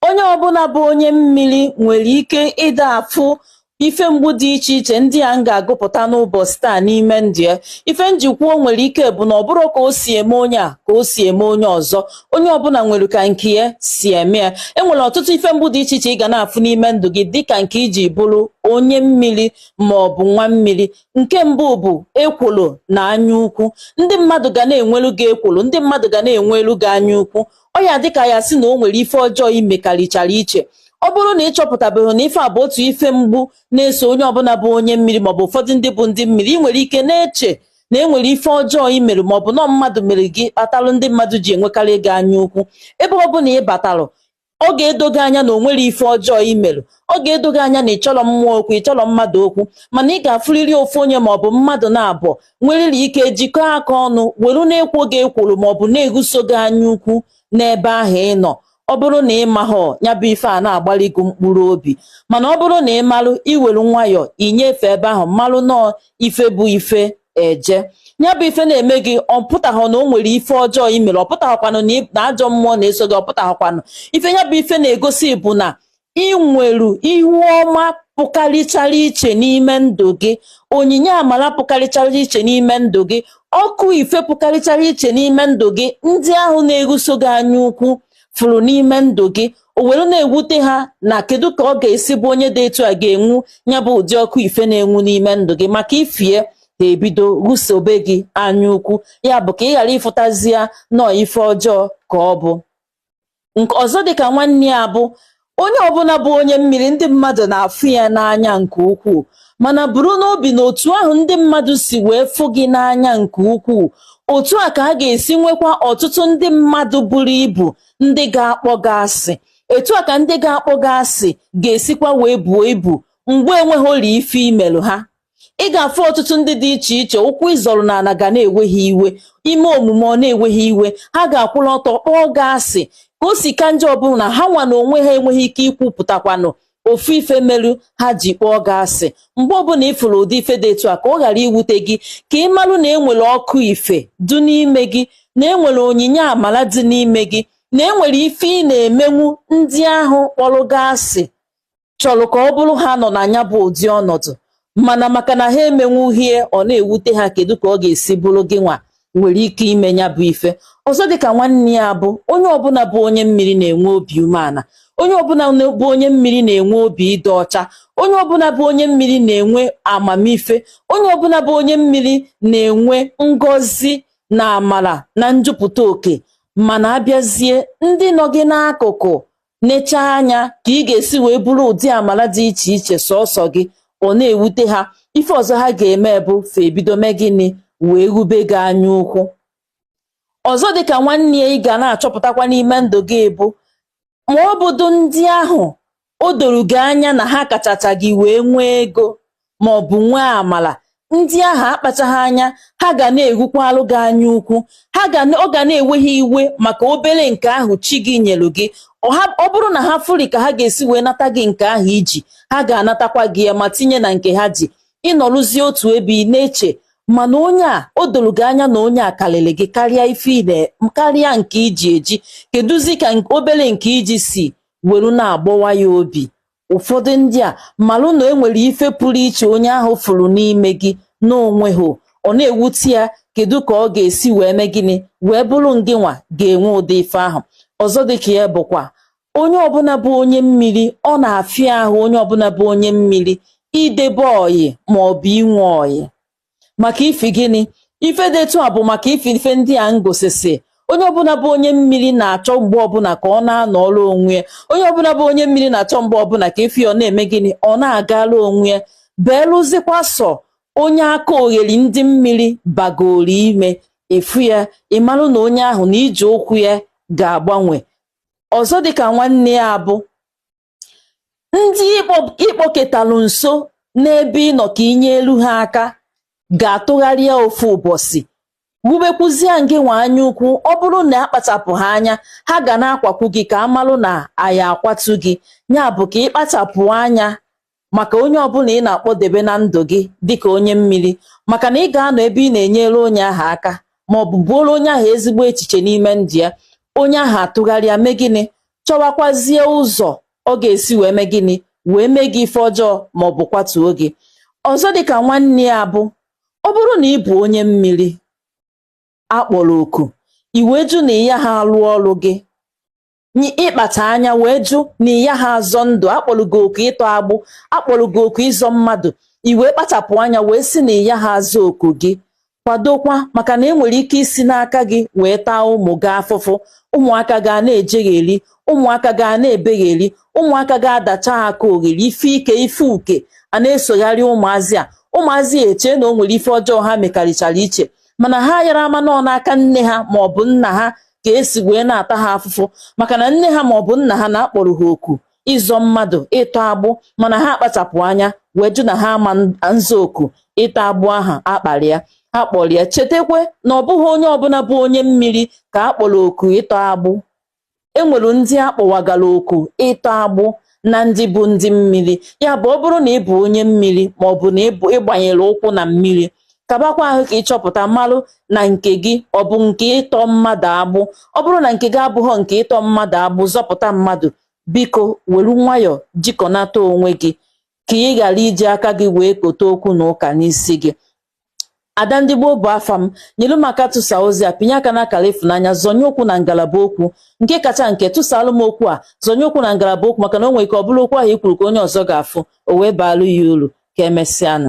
onye ọbụla bụ onye mmiri nwere ike ịda afụ ife mgbu dị iche iche ndị a m ga-agụpụta n'ụbọchị taa n'ime ndụ ya ife m ji kwuo nwere ike bụ na ọ bụrọ ka o si eme onye a ka o si eme onye ọzọ onye ọbụla nwere ka nke ya si eme ya e nwere ọtụtụ ife mgbu dị iche iche ị ga na-afụ n'ime ndụ gị dịka nke iji bụrụ onye mmiri ma ọ bụ nwa mmiri nke mbụ bụ ekworo na anya ukwu ndị mmadụ ga na-enwelu gị ekworo ndị mmadụ ga na-enwelu gị anya ukwu ọ ya dịka ya sị na o nwere ife ọjọọ i mekarịchara iche ọ bụrụ na ị chọpụtabeghị na ife a bụ otu ife mgbu na-eso onye ọbụla bụ onye mmiri maọbụ ụfọdụ ndị bụ ndị mmiri ị nwere ike na-eche na e nwere ife ọjọọ i mere maọbụ na ọ mmadụ mere gị kpatalụ ndị mmadụ ji enwekarị gị anya ukwu ebe ọ bụla ị batalụ ọ ga-edo gị anya na o nwerọ ife ọjọọ i mere ọ ga-edo gị anya na ị chọrọ mmụọ okwu ị chọrọ mmadụ okwu mana ị ga-afụrịrị ofu onye maọbụ mmadụ naabọ nweriri ike jikọọ aka ọnụ were na-ekwo gị ekworo maọbụ na-eguso gị anya ukwu n'ebe ahụ ị nọ ọ bụrụ na ị mahọ ya bụ ife a na-agbali gị mkpụrụ obi mana ọ bụrụ na ị malụ i were nwayọọ inyefe ebe ahụ malụ nọọ ife bụ ife eje ya bụ ife na-eme gị ọ pụtaghọ na o nwere ife ọjọọ i mere ọ pụtaghọkwanụ na ajọ mmụọ na-eso gị ọ pụtaghọkwanụ ife ya bụ ife na-egosi bụ na ị nwere ihu ọma pụkarịchara iche n'ime ndụ gị onyinye amara pụkarịchara iche n'ime ndụ gị ọkụ ife pụkarịchara iche n'ime ndụ gị ndị ahụ na-eguso gị anya ukwu fụrụ n'ime ndụ gị o were na-ewute ha na kedu ka ọ ga-esi bụ onye dị etu a ga-enwu ya bụ ụdị ọkụ ife na-enwu n'ime ndụ gị maka ifie ha ebido gusobe gị anya ukwu ya bụ ka ị ghara ịfụtazi ya na ọ ife ọjọọ ka ọ bụ nke ọzọ dịka nwanne ya bụ onye ọbụla bụ onye mmiri ndị mmadụ na-afụ ya n'anya nke ukwuu mana buru n'obi na otu ahụ ndị mmadụ si wee fụ gị n'anya nke ukwuu otu a ka a ga-esi nwekwa ọtụtụ ndị mmadụ buru ibu ndị ga-akpọ gị asị etu a ka ndị ga-akpọ gị asị ga-esikwa wee buo ibu mgbe enweghị ajọ ife i melụ ha ị ga-afụ ọtụtụ ndị dị iche iche ụkwụ ị zọrọ n'ala ga na-ewe ha iwe i mee omume ọ na-ewe ha iwe ha ga-akwụrụ ọtọ kpọọ gị asị ka o si ka njọ ọ bụ na ha nwa na onwe ha enweghị ike ikwupụtakwanụ ofu ife melu ha ji kpọọ gị asị mgbe ọbụla ị fụrụ ụdị ife dị etu a ka ọ ghara iwute gị ka ị marụ na enwere ọkụ ife dị n'ime gị na enwere onyinye amala dị n'ime gị na enwere ife ị na-emenwu ndị ahụ kpọrọ gị asị chọrọ ka ọ bụrụ ha nọ na ya bụ ụdị ọnọdụ mana maka na ha emenwughị ya ọ na-ewute ha kedu ka ọ ga-esi bụrụ gị nwa nwere ike ime ya bụ ife ọzọ dịka nwanne ya bụ onye ọbụla bụ onye mmiri na-enwe obi umeala onye ọbụla bụ onye mmiri na-enwe obi dị ọcha onye ọbụla bụ onye mmiri na-enwe amamife onye ọbụla bụ onye mmiri na-enwe ngọzi na amara na njupụta oke mana a bịazie ndị nọ gị n'akụkụ nechaa anya ka ị ga-esi wee buru ụdị amala dị iche iche sọsọ gị ọ na-ewute ha ife ọzọ ha ga-eme bụ fa ebido mee gịnị wee wube gị anya ukwu ọzọ dịka nwanne ya ị ga na-achọpụtakwa n'ime ndụ gị bụ ma ọ bụdụ ndị ahụ o doro gị anya na ha kachacha gị wee nwee ego ma ọ bụ nwee amala ndị ahụ akpachaghị anya ha ga na-ewukwalụ gị anya ukwu ha ga na- ọ ga na-ewe ha iwe maka obere nke ahụ chi gị nyelu gị ọ ha- ọ bụrụ na ha fụri ka ha ga-esi wee nata gị nke ahụ i ji ha ga-anatakwa gị ya ma tinye na nke ha ji ị nọrụzie otu ebe ị na-eche mana onye a o doro gị anya na onye a karịrị gị karịa ife ị na- karịa nke i ji eji keduzi ka nke- obere nke i ji si were na-agbawa ya obi Ụfọdụ ndị a malụ na e nwere ife pụrụ iche onye ahụ fụrụ n'ime gị n'onwe gị ọ na-ewute ya kedu ka ọ ga-esi wee mee gịnị wee bụrụ ngịnwa ga-enwe ụdị ife ahụ ọzọ dịka ya bụkwa onye ọbụla bụ onye mmiri ọ na-afịa ahụ onye ọbụla bụ onye mmiri idebe ọyị ma ọ bụ inwe ọyị maka ifi gịnị ife dị etu a bụ maka ifi ife ndị a ngosisi onye ọbụla bụ onye mmiri na-achọ mgbe ọbụla ka ọ na-anọọlụ onwe onye ọbụla bụ onye mmiri na-achọ mgbe ọbụla ka ife ọ na-eme gịnị ọ na-agara onwe ya belụzikwa sọ onye aka ogheri ndị mmiri bagoro ime efu ya ị marụ na onye ahụ na ije ụkwụ ya ga-agbanwe ọzọ dịka nwanne ya bụ ndị ị kpọketalụ nso n'ebe ị nọ ka i nyelu ha aka ga-atụgharịa ofu ụbọsị wubekwuzie ngị nwa anya ukwu ọ bụrụ na akpachapụghị anya ha ga na-akwakwu gị ka a malụ na a ya-akwatu gị ya bụ ka ị kpachapụ anya maka onye ọbụla ị na-akpọdebe na ndụ gị dịka onye mmiri maka na ị ga-anọ ebe ị na-enyere onye ahụ aka ma ọ bụ buoro onye ahụ ezigbo echiche n'ime ndụ ya onye ahụ atụgharịa mee gịnị chọwakwazie ụzọ ọ ga-esi wee mee gịnị wee mee gị ife ọjọọ ma ọ bụ kwatuo gị ọzọ dịka nwanne ya bụ ọ bụrụ na ị bụ onye mmiri a kpọrọ oku i wee jụ na ị yaha alụ ọrụ gị ị kpachaa anya wee jụ na ị yaha azọ ndụ a kpọrọ gị oku ịtọ agbụ a kpọrọ gị oku ịzọ mmadụ i wee kpachapụ anya wee sị na ị yaha aza oku gị kwadokwa maka na e nwere ike isi n'aka gị wee taa ụmụ gị afụfụ ụmụaka ga na-ejegheri ụmụaka ga na-ebegheri ụmụaka ga-adacha ha ka ogheri ife ike ife uke a na-esogharị ụmụazị a ụmụazị ya eche na o nwere ife ọjọọ ha mekarịchara iche mana ha yarọ ama na ọ n'aka nne ha ma ọ bụ nna ha ka esi wee na-ata ha afụfụ maka na nne ha ma ọ bụ nna ha na a kpọrọ ha oku ịzọ mmadụ ịtọ agbụ mana ha akpachapụ anya wee jụ na ha ama nza oku ịtọ agbụ ahụ a kpọrọ ya a kpọrọ ya chetakwa na ọ bụghị onye ọbụla bụ onye mmiri ka a kpọrọ oku ịtọ agbụ enwere ndị akpọwagara oku ịtọ agbụ na ndị bụ ndị mmiri ya bụ ọ bụrụ na ị bụ onye mmiri ma ọ bụ na ị bụ ị gbanyere ụkwụ na mmiri ka gbakwa ahụ ka ị chọpụta malụ na nke gị ọ bụ nke ịtọ mmadụ agbụ ọ bụrụ na nke gị abụghọ nke ịtọ mmadụ agbụ zọpụta mmadụ biko were nwayọọ jikọnata onwe gị ka ị ghara iji aka gị wee kote okwu na ụka n'isi gị Ada ndị gboo bụ afa m nyelu m aka tụsa ozi a pinye aka n'akara ịfụnanya zọnye okwu na ngalaba okwu nke kacha nke tụsalụ m okwu a zọnye okwu na ngalaba okwu maka na o nwere ike ọ bụrụ okwu ahụ i kwuru ka onye ọzọ ga-afụ o wee baalụ ya uru ka emesịanụ